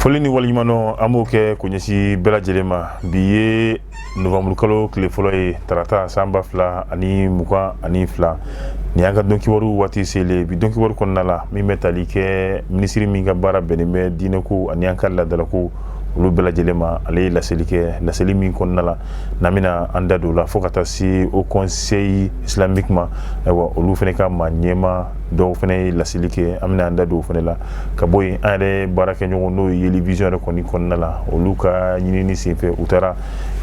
foli ni waliɲumandɔn an b'o kɛ k'o ɲɛsin bɛɛ lajɛlen ma bi ye novamburu kalo tile fɔlɔ ye tarata san ba fila ani mugan ani fila nin y'an ka dɔn kibaru waati selen bi don kibaru kɔnɔna la min bɛ tali kɛ minisiri min ka baara bɛnnen bɛ diinɛko ani an ka laadalako olu bɛɛ lajɛlen ma ale ye laseli kɛ laseli min kɔnɔna la n'an bɛna an da don o la fo ka taa se haut conseil islamique ma ayiwa olu fana ka maa ɲɛmaa dɔw fana ye laseli kɛ an bɛna an da don o fana la ka bɔ yen an yɛrɛ baarakɛɲɔgɔn n'o ye yeli vizɔn yɛrɛ kɔni kɔnɔna la olu ka ɲinini senfɛ u taara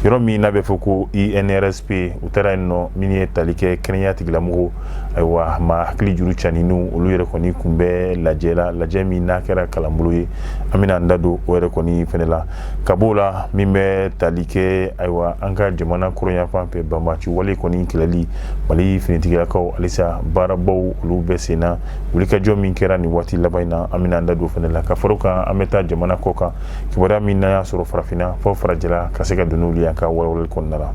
yɔrɔ min n'a bɛ fɔ ko inrsp u taara yen nɔ min ye tali kɛ kɛnɛya tigilamɔgɔ ayiwa maa hakili juru canninw olu yɛrɛ kɔni tun bɛ lajɛ la lajɛ min n'a kɛra kalanbolo ye an bɛna an da don o yɛrɛ kɔni fana la ka bɔ o la min bɛ tali kɛ ayiwa an ka jamana kɔrɔnyanfan fɛ banbaanci wale kɔni kɛlɛli mali finitigilakaw halisa baarabaw olu bɛ sen na wulikajɔ min kɛra nin waati laban in na an bɛna an da don fana la ka fara o kan an bɛ taa jamana kɔ kan kibaruya min n'a y'a sɔrɔ farafinna fo farajɛla ka se ka don o la an ka walawalali kɔnɔna la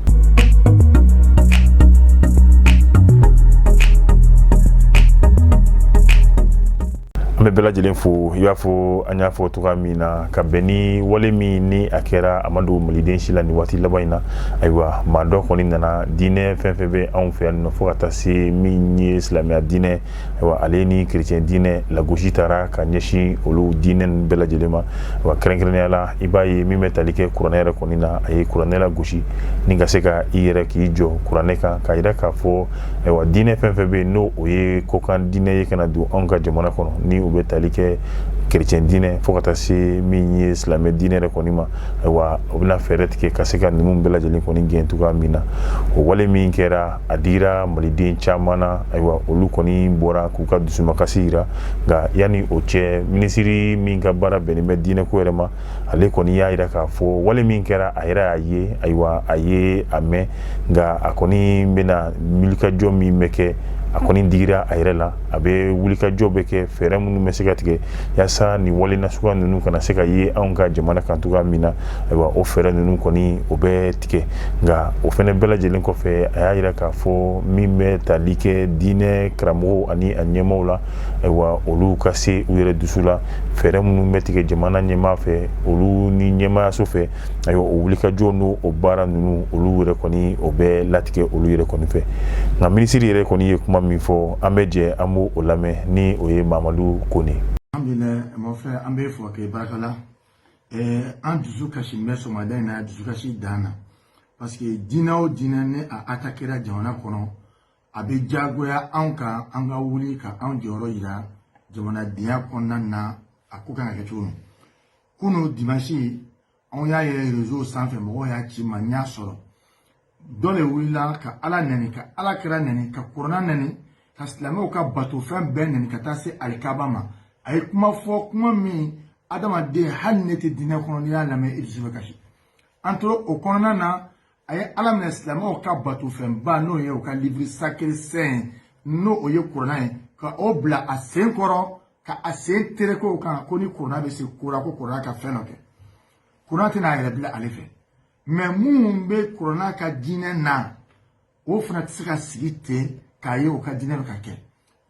an bɛ bɛɛ lajɛlen fo i b'a fɔ an y'a fɔ cogoya min na ka bɛn ni wale min ni a kɛra a ma dogo maliden si la nin waati laban in na ayiwa maa dɔ kɔni nana diinɛ fɛn fɛn bɛ anw fɛ yan nɔ fo ka taa se min ye silamɛya diinɛ ayiwa ale ni kerecɛn diinɛ lagosi taara ka ɲɛsin olu diinɛ ninnu bɛɛ lajɛlen ma wa kɛrɛnkɛrɛnnenya la i b'a ye min bɛ tali kɛ kuranɛ yɛrɛ kɔni na a ye kuranɛ lagosi ni ka se ka i yɛrɛ k'i jɔ kuranɛ kan k'a jira k'a fɔ ayiwa diinɛ fɛn fɛn bɛ yen n'o o ye kɔkan diinɛ ye ka na don anw ka jamana kɔnɔ ni u bɛ tali kɛ kerecɛn diinɛ fo ka taa se min ye silamɛ diinɛ yɛrɛ kɔni ma ayiwa u bɛna fɛɛrɛ tigɛ ka se ka ninnu bɛɛ lajɛlen kɔni gɛn cogoya min na o wale min kɛra a digira maliden caman na ayiwa olu kɔni bɔra k'u ka dusumakasi jira nka yanni o cɛ minisiri min ka baara bɛnnen bɛ diinɛko yɛrɛ ma ale kɔni y'a jira k'a fɔ wale min kɛra a yɛrɛ y'a ye ayiwa a ye a mɛn nka a kɔni bɛna wulikajɔ min bɛ kɛ a kɔni digira a yɛrɛ la a bɛ wulikajɔ bɛ kɛ fɛɛrɛ minnu bɛ se ka tigɛ yasa nin wale nasuguya ninnu kana se ka ye anw ka jamana kan cogoya min na ayiwa o fɛɛrɛ ninnu kɔni o bɛ tigɛ nka o fana bɛɛ lajɛlen kɔfɛ a y'a jira k'a fɔ min bɛ tali kɛ diinɛ karamɔgɔ ani a ɲɛmɔgɔ la ayiwa olu ka se u yɛrɛ dusu la fɛɛrɛ minnu bɛ tigɛ jamana ɲɛmaa fɛ olu ni ɲɛmaayaso fɛ ayiwa o wulikajɔ n'o o baara ninnu olu yɛrɛ kɔni o bɛ latigɛ olu yɛrɛ kɔni fɛ nka minisiri yɛrɛ kɔni ye kuma min fɔ an bɛ jɛ an bɛ o lamɛn ni o ye mamadu kone an bɛ fɔ kɛ baarakɛla an dusu kasi bɛ sɔgɔmada in na dusukasi dan na parce que diinɛ o diinɛ ni a atakera jamana kɔnɔ a bɛ diyagoya anw kan an ka wuli ka anw jɔyɔrɔ jira jamanadenya kɔnɔna na a ko kan ka kɛ cogo min kunun dimansi anw y'a ye rezo sanfɛ mɔgɔw y'a ci n ma n y'a sɔrɔ dɔ de wulila ka ala nɛni ka ala kira nɛni ka kurana nɛni ka silamɛw ka bato fɛn bɛɛ nɛni ka taa se alikaba ma a ye kuma fɔ kuma min adamaden hali n'i tɛ diinɛ kɔnɔ n'i y'a lamɛn i dusu bɛ kasi an tora o kɔnɔna na a ye ala minɛ silamɛw ka batofɛnba n'o ye u ka livre sacré saint n'o ye kurana ye ka o bila a sen kɔrɔ ka a sen tereke o kan ko ni kurana bɛ se ko ra ko kurana ka fɛn dɔ kɛ kurana tɛna a yɛrɛ bila ale fɛ mais minnu bɛ kurana ka diinɛ na o fana tɛ se ka sigi ten k'a ye o ka diinɛ bɛ ka kɛ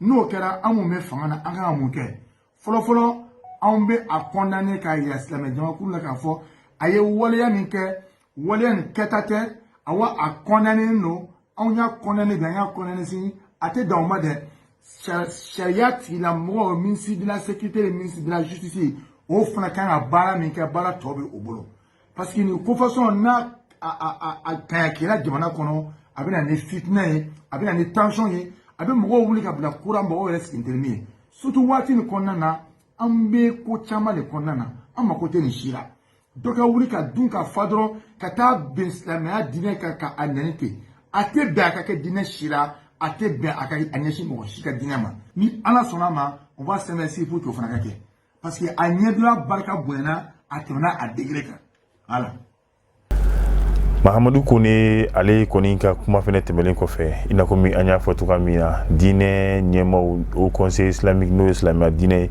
n'o kɛra an minnu bɛ fanga na an kan ka mun kɛ fɔlɔfɔlɔ anw bɛ a condamner k'a yira silamɛ jamakulu la k'a fɔ a ye waleya min kɛ waleya nin kɛta tɛ awa a condamnénen don anw y'a condamner bi an y'a condamner sini a tɛ dan o ma dɛ sariya tigilamɔgɔ ministre de la sécurité ni ministre de la justice o fana kan ka baara min kɛ baara tɔ bɛ o bolo parce que nin ko façon n'a a a a tayakira jamana kɔnɔ a bɛ na ni fitina ye a bɛ na ni tension ye a bɛ mɔgɔw wuli ka bila kura mɔgɔw yɛrɛ sigintelimi ye surtout waati nin kɔnɔna na an bɛ ko caman de kɔnɔna na an mako tɛ nin si la dɔ ka wuli ka dun ka fa dɔrɔn ka taa bɛn silamɛya diinɛ kan ka a nɛni ten a tɛ bɛn a ka kɛ diinɛ si la a tɛ bɛn a ka a ɲɛsin mɔgɔ si ka diinɛ ma ni ala sɔnna a ma on va se mettre pour que o fana ka kɛ parce que a ɲɛdɔla barika bonyana a tɛmɛna a degré kan ala mahamadu kone ale kɔni ka kuma fɛnɛ tɛmɛlen kɔfɛ i n'a komi an y'a fɔ cogoya min na diinɛ ɲɛmaw haut conseil islamique n'o ye silamɛya diinɛ ye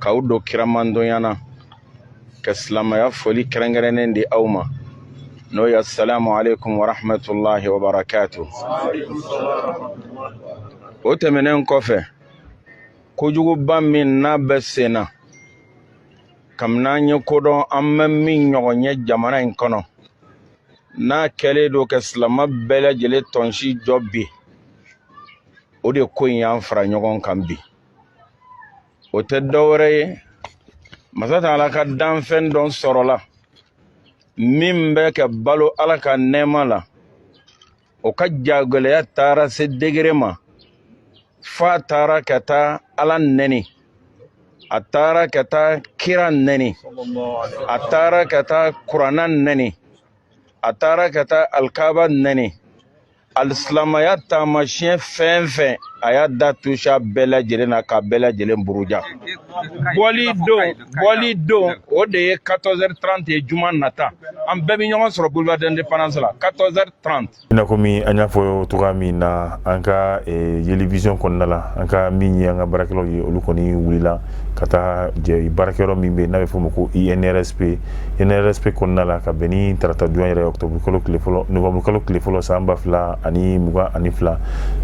k'aw don kira mantɔnya na ka silamɛya foli kɛrɛnkɛrɛnnen di aw ma n'o ye asalamu aleykum warahmatulahi wabarakatu o tɛmɛnen kɔfɛ kojuguba min n'a bɛ sen na kabini an ye ko dɔn an ma min ɲɔgɔn ye jamana in kɔnɔ n'a kɛlen don ka silama bɛɛ lajɛlen tɔnsi jɔ bi o de ko in y'an fara ɲɔgɔn kan bi o tɛ dɔwɛrɛ ye masa taala ka danfɛn dɔ sɔrɔla min bɛ ka balo ala ka nɛɛma la o ka jagɛlɛya taara se degré ma f'a taara ka taa ala nɛni a taara ka taa kira nɛni a taara ka taa kurana nɛni a taara ka taa alikaaba nɛni alisilamaya taamasiyɛn fɛn fɛn a y'a da tusa bɛɛ lajɛlen na ka bɛɛ lajɛlen buruja bɔli don bɔli don o de ye 14h30 ye juma nata an bɛɛ bɛ ɲɔgɔn sɔrɔ boulevard d'indépendance la 14h30 i n'a komi an y'a fɔ cogoya min na an ka yeli vision kɔnɔna la an ka min ye an ka baarakɛlaw ye olu kɔni wulila ka taa baarakɛyɔrɔ min bɛ n'a bɛ fɔ ma ko INRSP INRSP kɔnɔna la ka bɛn ni tarata don yɛrɛ octobre kalo tile fɔlɔ novembre kalo tile fɔlɔ san ba fila ani mugan ani fila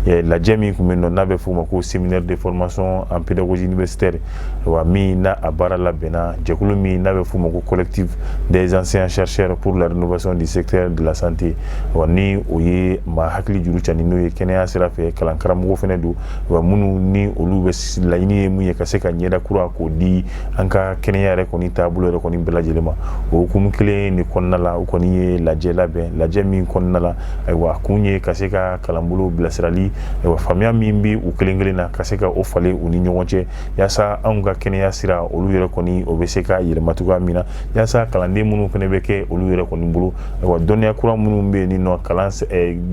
lajɛ min tun bɛ yen nɔ n'a bɛ fɔ ma ko séminaire de formation en pédagogie universitaire wa min n'a a baara labɛnna jɛkulu min n'a bɛ fɔ ma ko collectif des anciens chercheurs pour la rénovation du secteur de la santé wa ni o ye maa hakili juru cani n'o ye kɛnɛya sira fɛ kalan karamɔgɔ fana don wa minnu ni olu bɛ laɲini ye mun ye ka se ka ɲɛda kura k'o di an ka kɛnɛya yɛrɛ kɔni taabolo yɛrɛ kɔni bɛɛ lajɛlen ma o hukumu kelen de kɔnɔna la u kɔni ye lajɛ labɛn lajɛ min kɔnɔna la ayiwa a kun ye ka se ka kalanbolo bilasirali ayiwa faamuya min bɛ u kelen kelen na ka se ka o falen u ni ɲɔgɔn cɛ yaasa anw ka kɛnɛya sira olu yɛrɛ kɔni o bɛ se ka yɛlɛma cogoya min na yaasa kalanden minnu fana bɛ kɛ olu yɛrɛ kɔni bolo ayiwa dɔnniya kura minnu bɛ yen ni nɔ kalan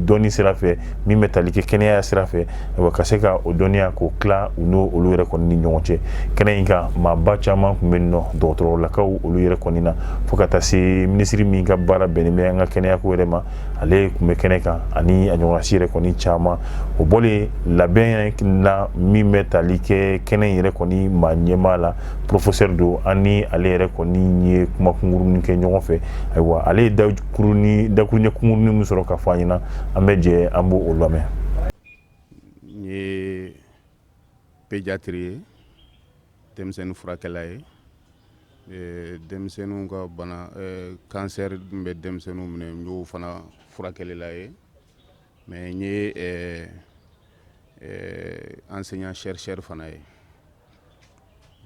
dɔnni sira fɛ min bɛ tali kɛ kɛnɛya sira fɛ ka se ka o dɔnniya k'o tila u n'o olu yɛrɛ kɔni ni ɲɔgɔn cɛ kɛnɛ in kan maaba caman tun bɛ yen nɔ dɔgɔtɔrɔlakaw olu yɛrɛ kɔni na fo ka taa se minisiri min ka baara bɛnnen bɛ an ka kɛnɛyako yɛrɛ ma ale tun bɛ kɛnɛ kan ani a ɲɔgɔnsi yɛrɛ kɔni caman o bɔlen labɛn na min bɛ tali kɛ kɛnɛ in yɛrɛ kɔni maa ɲɛmaa la professeur don an ni ale yɛrɛ kɔni ye kuma kunkurunnin kɛ ɲɔgɔn fɛ ayiwa ale da kɔni dakuruɲɛ kunkurunnin min sɔrɔ ka fɔ an ɲɛna an bɛ jɛ an b'o o lamɛn n ye pédiatre ye denmisɛnnin furakɛla ye eh, denmisɛnninw ka bana eh, cancer min bɛ denmisɛnninw minɛ n y'o fana furakɛlila ye mais n ye eh, enseignant chercheur fana ye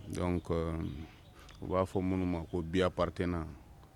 donc u b'a fɔ minnu ma ko bi-appartenant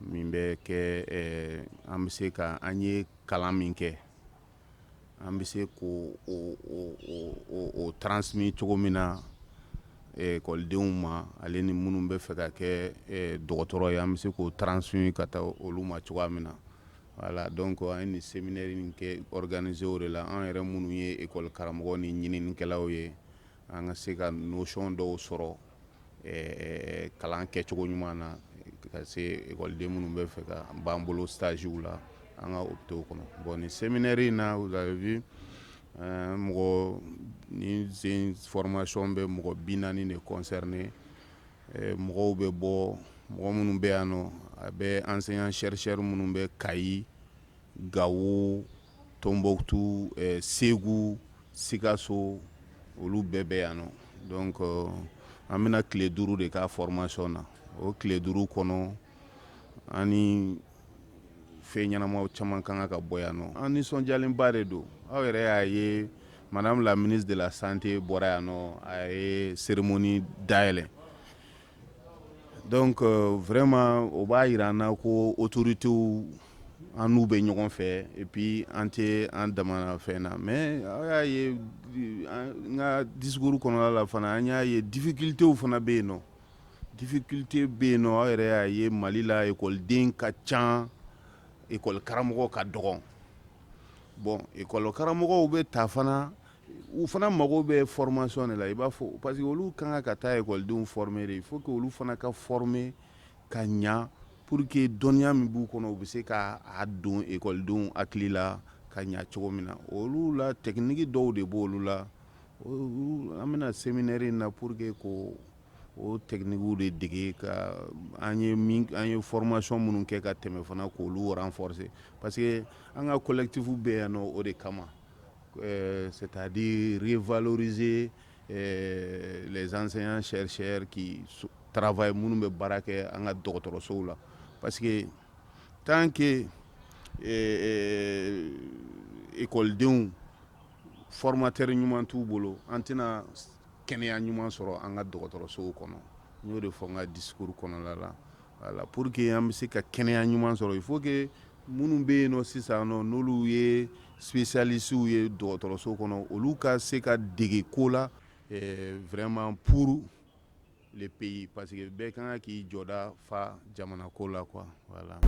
min bɛ kɛ an bɛ se ka an ye kalan min kɛ an bɛ se k'o transmis cogo min na ekɔlidenw ma ale ni minnu bɛ fɛ ka kɛ dɔgɔtɔrɔ ye an bɛ se k'o transmis ka taa olu ma cogoya min na voilà donc an ye nin séminaire in kɛ organiser o de la an yɛrɛ minnu ye ekɔli karamɔgɔ ni ɲininikɛlaw ye an ka se ka notion dɔw sɔrɔ ɛɛ kalan kɛcogo ɲuman na ka se ekɔliden minnu bɛ fɛ ka b'an bolo stagew la an ka hôpitaux kɔnɔ bon nin séminaire in na vous avez vu mɔgɔ ni sen formation bɛ mɔgɔ bi naani de concerner mɔgɔw bɛ bɔ mɔgɔ minnu bɛ yan nɔ a bɛ enseignant chercheur minnu bɛ Kayi Gawo tonbukutu segu sikaso olu bɛɛ bɛ yan nɔ donc an bɛna tile duuru de ka formation na o tile duuru kɔnɔ ani fɛn ɲɛnama caman kan ka ka bɔ yan nɔ an nisɔndiyalenba de don aw yɛrɛ y'a ye madame la ministre de la santé bɔra yan nɔ a ye cérémonie dayɛlɛ Donc vraiment o b'a yira an na ko autoritéw an n'u bɛ ɲɔgɔn fɛ et puis an tɛ an dama fɛn na mais aw y'a ye n ka discours kɔnɔna la fana an y'a ye difficultéw fana bɛ yen nɔ difficulté bɛ yen nɔ aw yɛrɛ y'a ye mali la ekɔliden ka ca ekɔli karamɔgɔ ka dɔgɔn bon ekɔli karamɔgɔw bɛ ta fana u fana mago bɛ formation de la i b'a fɔ parce que olu kan ka ka taa ekɔlidenw former de il faut que olu fana ka former ka ɲa pour que dɔnniya min b'u kɔnɔ u bɛ se ka a don ekɔlidenw hakili la ka ɲa cogo min na olu la technique dɔw de b'olu la an bɛna séminaire in na pour que k'o techniquew de dege ka an ye min an ye formation minnu kɛ ka tɛmɛ fana k'olu renforcer parce que an ka collectif bɛ yan nɔ o de kama Ɛɛ c'est à dire revaloriser ɛɛ les enseignants chercheurs qui travaillent minnu bɛ baara kɛ an ka dɔgɔtɔrɔsow la parce que tant que ɛɛ école denw formateur ɲuman t'u bolo an tɛna kɛnɛya ɲuman sɔrɔ an ka dɔgɔtɔrɔsow kɔnɔ n y'o de fɔ n ka discours kɔnɔna la Voilà pour que an bɛ se ka kɛnɛya ɲuman sɔrɔ il faut que minnu bɛ yen nɔ sisan nɔ n'olu ye spécialistew ye dɔgɔtɔrɔso kɔnɔ olu ka se ka dege ko la vraiment pour le pays parce que bɛɛ kan ka k'i jɔda fa jamana ko la quoi voilà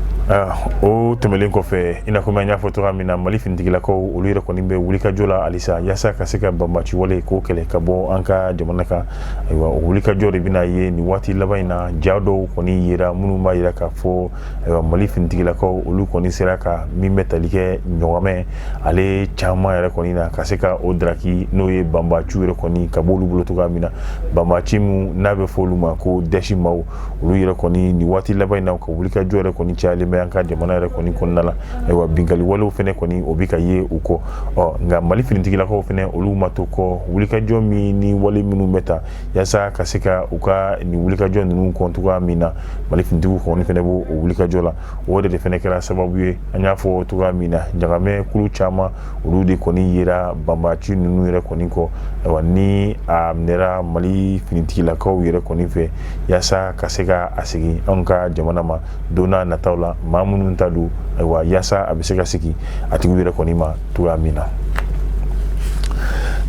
o tɛmɛlen kɔfɛ i n'a fɔ an y'a fɔ cogoya min na mali finitigilakaw olu yɛrɛ kɔni bɛ wulikajɔ la halisa yaasa ka se ka banbaci wale k'o kɛlɛ ka bɔ an ka jamana kan ayiwa o wulikajɔ de bɛna ye nin waati laban in na ja dɔw kɔni yera minnu b'a yira k'a fɔ ayiwa mali finitigilakaw olu kɔni sera ka min bɛ tali kɛ ɲɔgɔmɛ ale caman yɛrɛ kɔni na ka se ka o daraki n'o ye banbaciw yɛrɛ kɔni ka b'olu bolo cogoya min na banbaci min n'a bɛ fɔ olu ma ko dɛsimaw olu yɛrɛ kɔni nin waati laban in na ka wulikajɔ yɛrɛ kɔni cayalen bɛ an ka jamana yɛrɛ kɔni kɔnɔna la ayiwa binkali walew fɛnɛ kɔni o bɛ ka ye u kɔ nka mali finitigilakaw fɛnɛ olu ma to kɔ wulikajɔ min ni wale minnu bɛ ta yaasa ka se ka u ka nin wulikajɔ ninnu kɔn cogoya min na mali finitigiw kɔni fɛnɛ b'o o wulikajɔ la o de fɛnɛ kɛra sababu ye an y'a fɔ cogoya min na ɲagamɛ kulu caman olu de kɔni yera banbaci ninnu yɛrɛ kɔni kɔ ayiwa ni a minɛra mali finitigilakaw yɛrɛ kɔni fɛ yaasa ka se ka a segin anw ka jamana ma don n'a nataw la maa minnu ta don ayiwa yaasa a bɛ se ka segin a tigiw yɛrɛ kɔni ma cogoya min na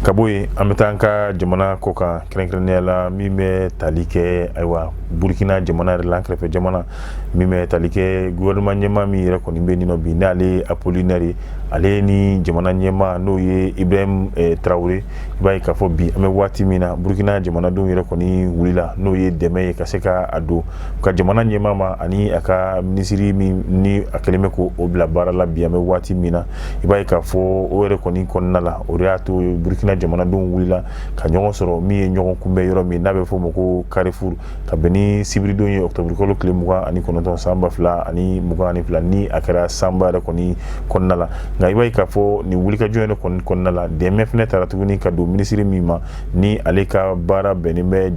ka bɔ yen an bɛ taa an ka jamana kɔ kan kɛrɛnkɛrɛnnenya la min bɛ tali kɛ ayiwa burukina jamana yɛrɛ la an kɛrɛfɛ jamana min bɛ tali kɛ gouvernement ɲɛmaa min yɛrɛ kɔni bɛ yen nɔ bi n'ale ye apolinɛri ye ale ni jamana ɲɛmaa n'o ye ibrahim traoré i b'a ye k'a fɔ bi an bɛ waati min na burukina jamanadenw yɛrɛ kɔni wulila n'o ye dɛmɛ ye ka se ka a don ka jamana ɲɛmaa ma ani a ka minisiri min ni a kɛlen bɛ k'o bila baara la bi an bɛ waati min na i b'a ye k'a fɔ o yɛrɛ kɔni kɔnɔna la o de y'a to burukina jamanadenw wulila ka ɲɔgɔn sɔrɔ min ye ɲɔgɔn kunbɛn yɔrɔ min n'a bɛ fɔ o ma ko carrefour ka bɛn ni sibiridon ye ɔkutɔburukalo tile mugan ani kɔnɔntɔn san ba fila ani mugan ani fila ni a kɛra sanba yɛrɛ kɔni kɔnɔna la nka i b'a ye k'a fɔ nin wulikajɔ yɛrɛ kɔni kɔnɔna la dɛmɛ fɛnɛ taara tuguni ka don minisiri min ma ni ale ka baara bɛnnen bɛ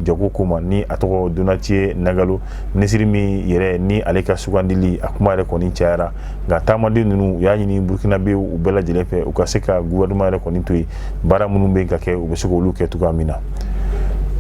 jago ko ma ni a tɔgɔ donatien nagalo minisiri min yɛrɛ ni ale ka sugandili a kuma yɛrɛ kɔni cayara nka taamaden ninnu u y'a ɲini burukinabe u bɛɛ lajɛlen fɛ u ka se ka gouvernement yɛrɛ kɔni to yen baara minnu bɛ ka kɛ u bɛ se k'olu kɛ cogoya min na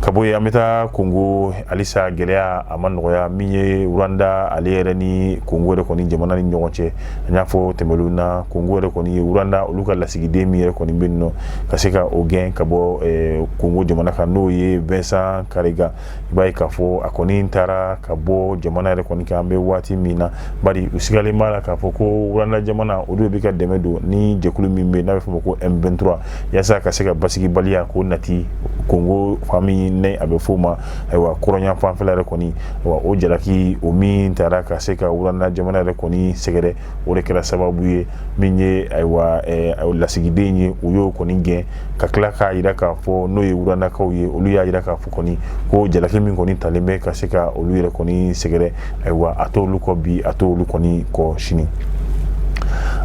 ka bɔ yen an bɛ taa kongo halisa gɛlɛya a ma nɔgɔya min ye rwanda ale yɛrɛ ni kongo yɛrɛ kɔni jamana ni ɲɔgɔn cɛ an y'a fɔ tɛmɛlenw na kongo yɛrɛ kɔni ye rwanda olu ka lasigiden min yɛrɛ kɔni bɛ yen nɔ ka se ka o gɛn ka bɔ kongo jamana kan n'o ye vincent karega i b'a ye k'a fɔ a kɔni taara ka bɔ jamana yɛrɛ kɔni kan an bɛ waati min na bari u sigalen b'a la k'a fɔ ko rwanda jamana olu de bɛ ka dɛmɛ don ni jɛkulu min bɛ n'a bɛ fɔ o ma ko M23 yaasa ka se ka basigibaliya k'o nati kongo fan min ni a bɛ f'o ma ayiwa kɔrɔnya fanfɛla yɛrɛ kɔni wa o jalaki o min taara ka se ka rwanda jamana yɛrɛ kɔni sɛgɛrɛ o de kɛra sababu ye min ye ayiwa lasigiden ye u y'o kɔni gɛn ka tila k'a yira k'a fɔ n'o ye rwandakaw ye olu y'a yira k'a fɔ kɔni ko jalaki min kɔni talen bɛ ka se ka olu yɛrɛ kɔni sɛgɛrɛ ayiwa a tɛ olu kɔ bi a tɛ olu kɔni kɔ sini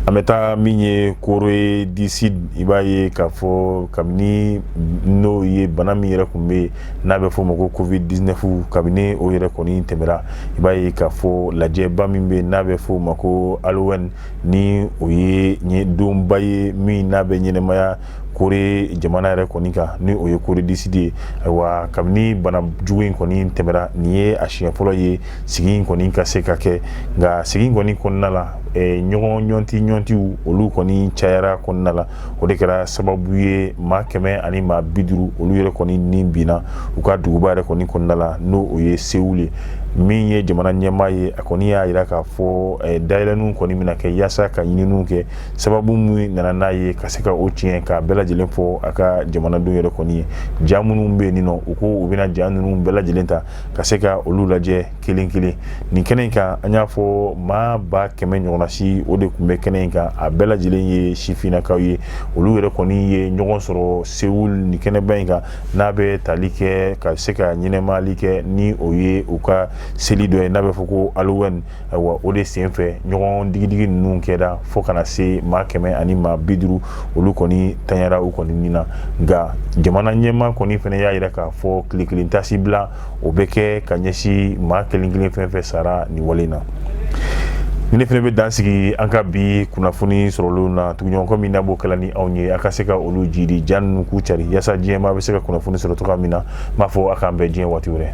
an bɛ taa min ye corée du sud i b'a ye k'a fɔ kabini n'o ye bana min yɛrɛ tun bɛ yen n'a bɛ fɔ o ma ko covid 19 kabini o yɛrɛ kɔni tɛmɛra i b'a ye k'a fɔ lajɛba min bɛ n'a bɛ fɔ o ma ko halloween ni o ye donba ye min n'a bɛ ɲɛnamaya corée jamana yɛrɛ kɔni kan ni o ye corée du sud ye ayiwa kabini bana jugu in kɔni tɛmɛra nin ye a siɲɛ fɔlɔ ye sigi in kɔni ka se ka kɛ nka sigi in kɔni kɔnɔna la ɲɔgɔn ɲɔnti ɲɔntiw olu kɔni cayara kɔnɔna la o de kɛra sababu ye maa kɛmɛ ani maa bi duuru olu yɛrɛ kɔni ni binna u ka duguba yɛrɛ kɔni kɔnɔna la n'o o ye sewul ye min ye jamana ɲɛmaa ye a kɔni y'a yira k'a fɔ eh, dayɛlɛninw kɔni bɛna kɛ yaasa ka ɲininiw kɛ sababu min nana n'a ye ka se ka o tiɲɛ k'a bɛɛ lajɛlen fɔ a ka jamanadenw yɛrɛ kɔni ye ja minnu bɛ yen nɔ u ko u bɛna ja ninnu bɛɛ lajɛlen ta ka se ka olu lajɛ kelen kelen nin kɛnɛ in kan an y'a fɔ maa ba kɛmɛ ɲɔgɔnna si o de tun bɛ kɛnɛ in kan a bɛɛ lajɛlen ye sifinnakaw ye olu yɛrɛ kɔni ye ɲɔgɔn sɔrɔ sewul nin kɛnɛba in kan n'a bɛ tali kɛ ka se ka ɲɛnɛmayali kɛ ni o ye u ka seli dɔ ye n'a bɛ fɔ ko alowɛni ayiwa o de sen fɛ ɲɔgɔn digidigi ninnu kɛra fo ka na se maa kɛmɛ ani maa bi duuru olu kɔni tanyara u kɔni nin na nka jamana ɲɛmaa kɔni fana y'a yira k'a fɔ tile kelen taasibila o bɛ kɛ ka ɲɛsin maa kelen kelen fɛn fɛn sara nin wale in na ne fana bɛ dan sigi an ka bi kunnafoni sɔrɔlenw na tuguɲɔgɔnkɔ min n'a b'o kɛla ni anw ye a ka se ka olu jidi ja ninnu k'u cari yaasa diɲɛmaa bɛ se ka kunnafoni sɔrɔ cogoya min na n b'a fɔ a k'an bɛn diɲɛ waati wɛrɛ